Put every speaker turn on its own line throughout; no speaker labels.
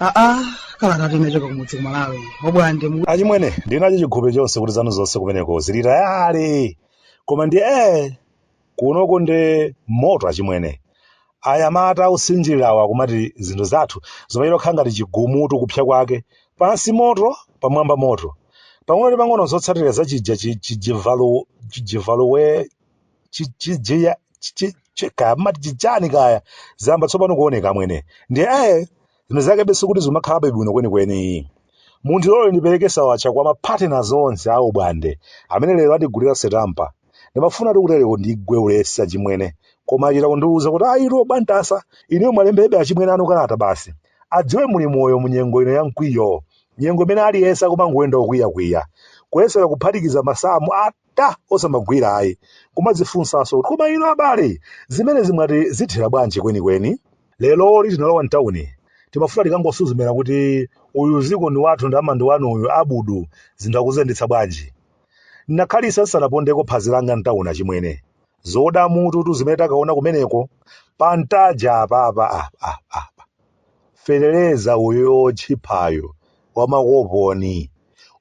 aa kalata tinachoka kumudzi kumalawi obwande achimwene ndinacho
chihope chonse kuti zanu zonse kumeneko zili tayale koma ndi ee Kunoko ndi moto achimwene. Anyamata osinjilirawa akumati zinthu zathu zimachita kukhala ngati chigumutu kupsya kwake, pansi moto pamwamba moto. Pang'ono ndi pang'ono zotsatira za chija chi chi jivalu chi jivaluwe chi chi jiya chi chi chi kaya mumati chichani kaya zayamba tsopano kuoneka amwene. Ndiye eh Zinthu zakebe sikuti zikumakhalabe bwino kwenikweni. Mundilole ndipereke sawatcha kwa mapartners onse a obwande amene lero atigulira setampa. Ndimafunatu kutereko ndigwe ulesi achimwene, koma achita kundiuza kuti ayitu Obwantasa, inuyo mwalembebe achimwene anu kalata basi. Adziwe muli moyo mu nyengo ino ya mkwiyo, nyengo imene aliyense akumangoyenda okwiyakwiya, kuyesera kuphatikiza masamu a ta osamagwira ayi kumadzifunsanso kuti koma inu abale zimenezi mwati zithera bwanji kwenikweni leroli tinalowa mtauni timafuna tikangosuzumira kuti uyu ziko ndi wathu ndalama ndi wanu uyu abudu zinthu akuziyendetsa bwanji ndinakhalisa ndisanapondeko phazi langa mtauni achimwene zoda mututu zimene takaona kumeneko pa Ntaja apapa ah, ah, ah. feteleza uyo otchiphayo wamakoponi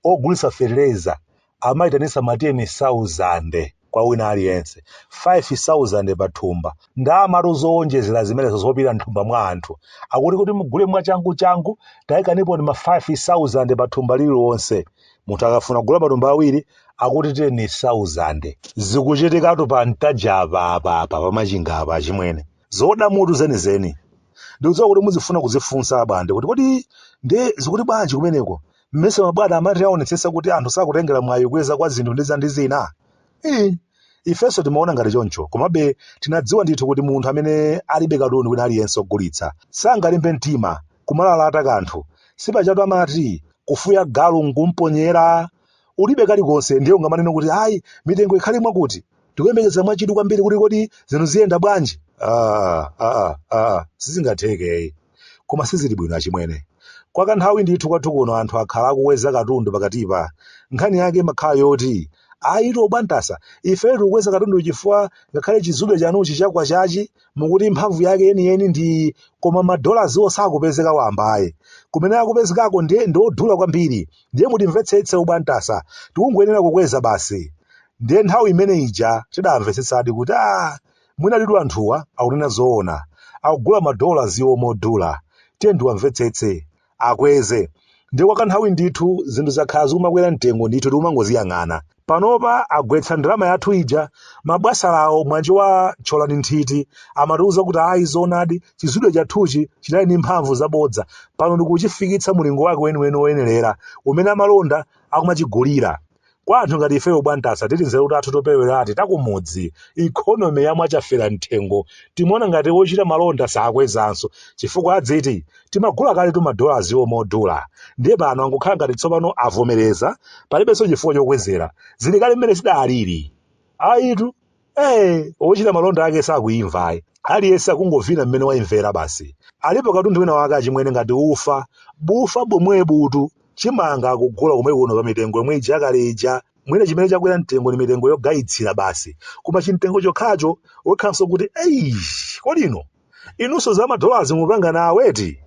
ogulisa feteleza amaitanisa ma 10,000 kwa wina aliyense, 5,000 pa thumba. Ndalamatu zoonjezela zimenezo zopita mthumba mwa anthu. Akuti kuti mugule mwachangu changu, taikaniponi ma 5,000 pa thumba lililonse. Munthu akafuna kugula matumba awiri, akuti 10,000. Zikuchitikatu pa Ntaja apa apa apa pa Machinga apa achimwene. Zoda mutu zenizeni. Ndikudziwa kuti muzifuna kuzifunsa abwande kuti kodi nde zikuti bwanji kumeneko? mmese mabwana amati aonetsetsa kuti anthu sakutengera mwayi kukweza kwa zinthu ndi zina ndi zina Ii, ifenso timaona ngati choncho komabe tinadziwa ndithu kuti munthu amene alibe katundu wina aliyense ogulitsa sangalimbe mtima kumalalata kanthu sipajatu amati kufuya galu nkumponyera ulibe kalikonse ndiye ungamanene kuti ayi mitengo ikhale mwakuti tikuyembekeza mwachidwi kwambiri kuti kodi zinthu ziyenda bwanji ah, ah, ah, sizingatheke Koma sizili bwino achimwene. Kwa kanthawi ndithu kwathu kuno anthu akhala akukweza katundu pakatipa. Nkhani yake imakhala yoti, Ayitu obwantasa, ifeyo tikukweza katunduyu chifukwa ngakhale chizube chanuchi cha Kwachachi mukuti mphamvu yake yeniyeni ndi iyi, koma ma dollars'wo sakupezeka wamba ayi. Kumene akupezekako ndiye ndi odula kwambiri. Ndiye mutimvetsetse obwantasa. Tikungoyenera kukweza basi. Ndiye nthawi imene ija tidamvetsetsadi kuti, ah, Mwinaditu anthuwa akunena zoona. Akugula ma dollars omodula. Tiyeni tiwamvetsetse. Akweze. Ndiye kwa kanthawi ndithu zinthu zakhala zikumakwera mtengo ndithu tikumangoziyang'ana. Panopa agwetsa ndalama yathu ija. Mabwasalawo mwanjomba tcholani nthiti amatiuza kuti ayi zoonadi chizudwe chathuchi chinali ndi mphamvu zabodza. Pano ndikuchifikitsa mulingo wake weniweni woyenerera umene amalonda akumachigulira. kwa anthu ngati ifeyo bwantasa titi nzeru tathu topereweratu takumudzi economy ya mwachafera mthengo timaona ngati wochita malonda sakwezanso chifukwa adziti timagula kaletu madollars omodula ndiye pano angokhala ngati tsopano avomereza palibenso chifukwa chokwezera zili kale mmene zidalili ayitu ee ochita malonda ake sakuyimva ayi aliyense akungovina mmene wayimvera basi alipo katundu wina wake achimwene ngati ufa bufa bomwebutu chimanga akugula komwe kuno pa mitengo yomwe ija yakale ija mwina chimene chakwera mtengo ni mitengo yogayitsira basi koma chimtengo chokhacho wokhanso kuti ii kodino Inunso za madolazi mupanga nawo eti?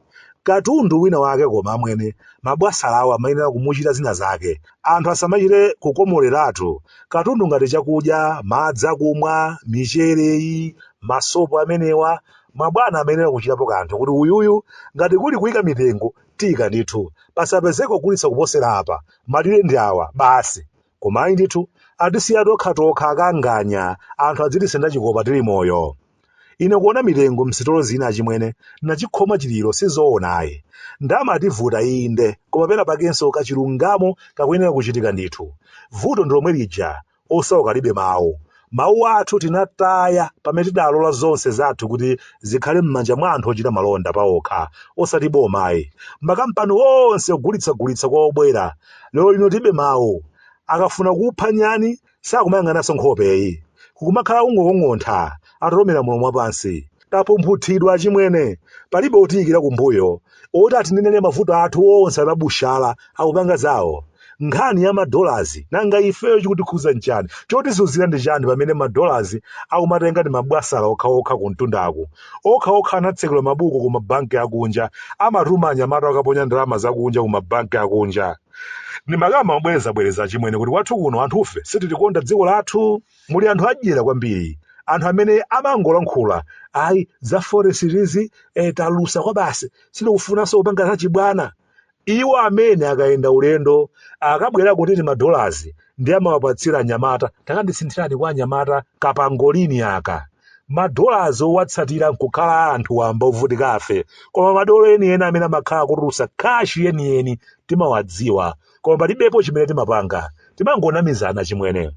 Katundu wina wake koma amwene, mabwasalawo amayenera kumuchita zina zake. Anthu asamachite kukomoleratu katundu ngati chakudya, madzi akumwa, michere iyi, masopo amenewa. Mabwana amayenera kuchitapo kanthu kuti uyu uyu ngati kuli kuika mitengo tiika ndithu. Pasapezeke ogulitsa kuposera apa. Malire ndi awa, basi. Koma ayi ndithu, atisiya tokhatokha akanganya, anthu adzitisenda chikopa tili moyo. Ine kuona mitengo msitolo zina achimwene nachikhoma chiliro sizoona ayi. Ndalama yativuta inde koma pena pakenso kachilungamo kakuyenera kuchitika ndithu. Vuto ndilomwe lija osauka alibe mawu. Mawu athu tinataya pamene tidalola zonse zathu kuti zikhale mmanja mwa anthu ochita malonda paokha osati boma ayi. Makampani onse ogulitsagulitsa kwa obwera. Lero lino tilibe mawu. Akafuna kupha nyani sakumayang'ananso nkhopeyi. Kukumakhala kungokong'ontha, atalumira mulomo wapansi. Tapumphunthidwa achimwene. Palibe otiyikira kumbuyo, oti atinenere mavuto athu onse anabushala akupanga zawo. Nkhani ya ma dollars, nanga ifeyo chikutikhuza nchani? Chotizunzira ndi chani pamene ma dollars akumatenga ndi ma bwasala okhaokha kumtundaku. Okhaokha anatsekula mabuku ku ma bank akunja, amatuma anyamata akaponya ndalama zakunja ku ma bank akunja. Ndimakamba mobwerezabwereza achimwene kuti kwathu kuno anthufe sitilikonda dziko lathu. Muli anthu adyera kwambiri, anthu amene amangolankhula, ayi za forex izi, eh, talusa kwabasi, sitikufunanso kupanga zachibwana. Iwo amene akayenda ulendo akabwerako ndi timadolazi ndiye amawapatsira anyamata takandisinthirani kwa anyamata kapangolini aka madolazi owatsatila nkukhala anthu wamba ovutika afe koma madolo enieni amene amakhala akutulusa kashi yeniyeni timawadziwa koma palibepo chimene timapanga timangonamizana chimwene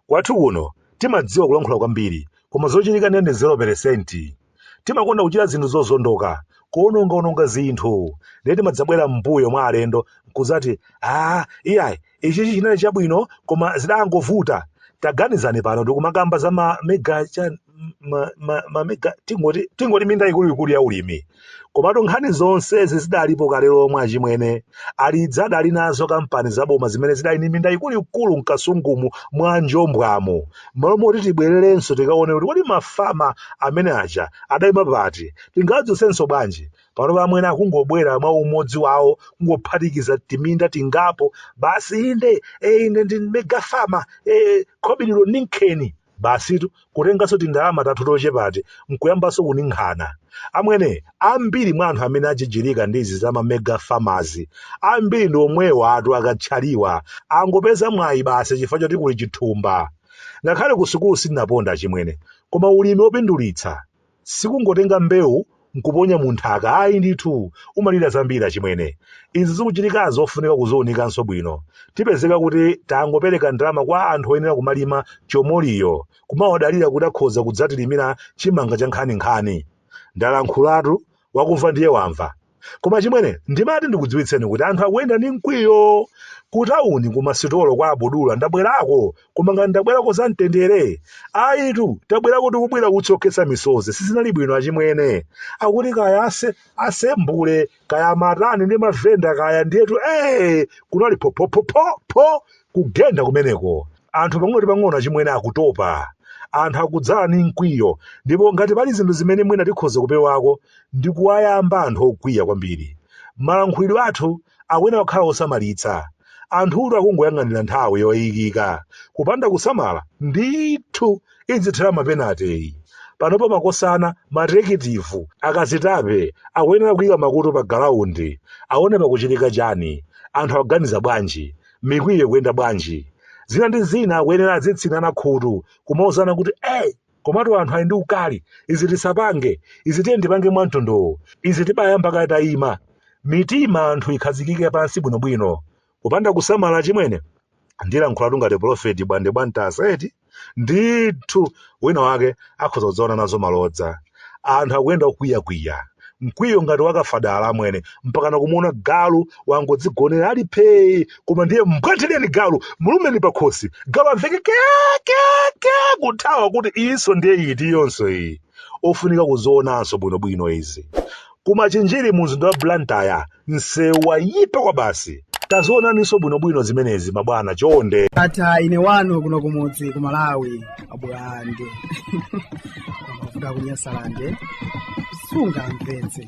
kwathu kuno timadziwa kulankhula kwambiri koma zochitika ndiye ndi 0 peresenti Timakonda kuchita zinthu zozondoka, kuwononga-wononga zinthu. Ndiye timadzabwera m'mbuyo mwa alendo n'kudzati, Aaa, iyayi, ichichi chinali chabwino koma zidangovuta. Taganizani pano tikumakamba za ma mega chani ma, ma, ma mega tingoti tingoti minda ikuluikulu ya ulimi. Komatu nkhani zonsezi zidalipo kale lomwe achimwene. Alidiza adali nazo kampani zaboma zimene zidali ndi minda ikuluikulu m'Kasungumu mwa Njombwamu. m'malo moti tibwererenso tikaone kuti kodi mafama amene aja adaima pati tingadzutsenso bwanji panopa amwene akungobwera mwa umodzi wawo kungophatikiza timinda tingapo basi inde e, ine ndi megafama e, khobidilo ninkheni basitu kutenganso tindalama tathu tochepati nkuyambanso kuninkhana amwene ambiri mwa anthu amene ajijirika ndi izi za mamega famazi ambiri ndi omwewatu akatchaliwa angopeza mwayi basi chifukwa choti kuli chithumba ngakhale ku sukulu sindinaponda chimwene koma ulimi opindulitsa sikungotenga mbewu nkuponya mu nthaka ayi ndithu umalira zambiri achimwene izi zikuchitika zofunika kuziunikanso bwino tipezeka kuti tangopereka ndalama kwa anthu oyenera kumalima chomoliyo kumawadalira kuti akhoza kudzatilimira chimanga cha nkhaninkhani. Ndalankhulatu, wakumva ndiye wamva. Koma chimwene, ndimati ndikudziwitseni kuti anthu akuyenda ndi mkwiyo. Kutawuni kumasitolo kwa abudula ndabwerako, koma ngati ndabwerako za mtendere. Ayitu, tabwerako tikubwira utsi okhetsa misozi, sizinali bwino achimwene. Akuti kaya ase, asembule, kaya amatani ndi mavenda kaya ndiyetu ee kunali phophophophopho kugenda kumeneko anthu pang'ono pang'ono achimwene akutopa anthu akudzala ni mkwiyo ndipo ngati pali zinthu zimene mwina tikhoza kupewako ndi kuwayamba anthu okwiya kwambiri malankhulidwe athu akuyenera akhale osamalitsa anthutu akungoyang'anira nthawi yoyikika kupanda kusamala ndithu idzithera mapenate iyi. Panopa makosana, materekitivu, akazitape akuyenera kuyika makutu pa galaundi awone pakuchitika chani, anthu akuganiza bwanji, mikwiyo ikuyenda bwanji. Zina ndi zina akuyenera adzitsinana khutu kumauzana kuti ee! Komatu anthu ali ndi ukali, izi tisapange, izi tiyeni tipange mwa mtundu uwu, izi tibayamba kaye tayima. Mitima ya anthu ikhazikike pansi bwinobwino. Kupanda kusamala achimwene, ndilankhulatu ngati pulofeti bwande bwantasa eti? Ndithu wina wake akhoza kudzaona nazo malodza. Anthu akuyenda kukwiyakwiya, mkwiyo ngati wa kafadala amwene, mpakana kumuona galu wangodzigonera ali phee koma ndiye mbwandireni galu, mulumeni pakhosi, galu amveke kya kya kya kuthawa kuti iyinso ndiye iti iyonso iyi. ofunika kuzionanso bwinobwino izi ku machinjiri mu mzinda wa blantyre msewu wayipa kwa basi tazionaninso bwinobwino zimenezi mabwana chonde ndatha ine wanu
kuno kumudzi ku malawi abwande kuda kunyasalande sungamvetse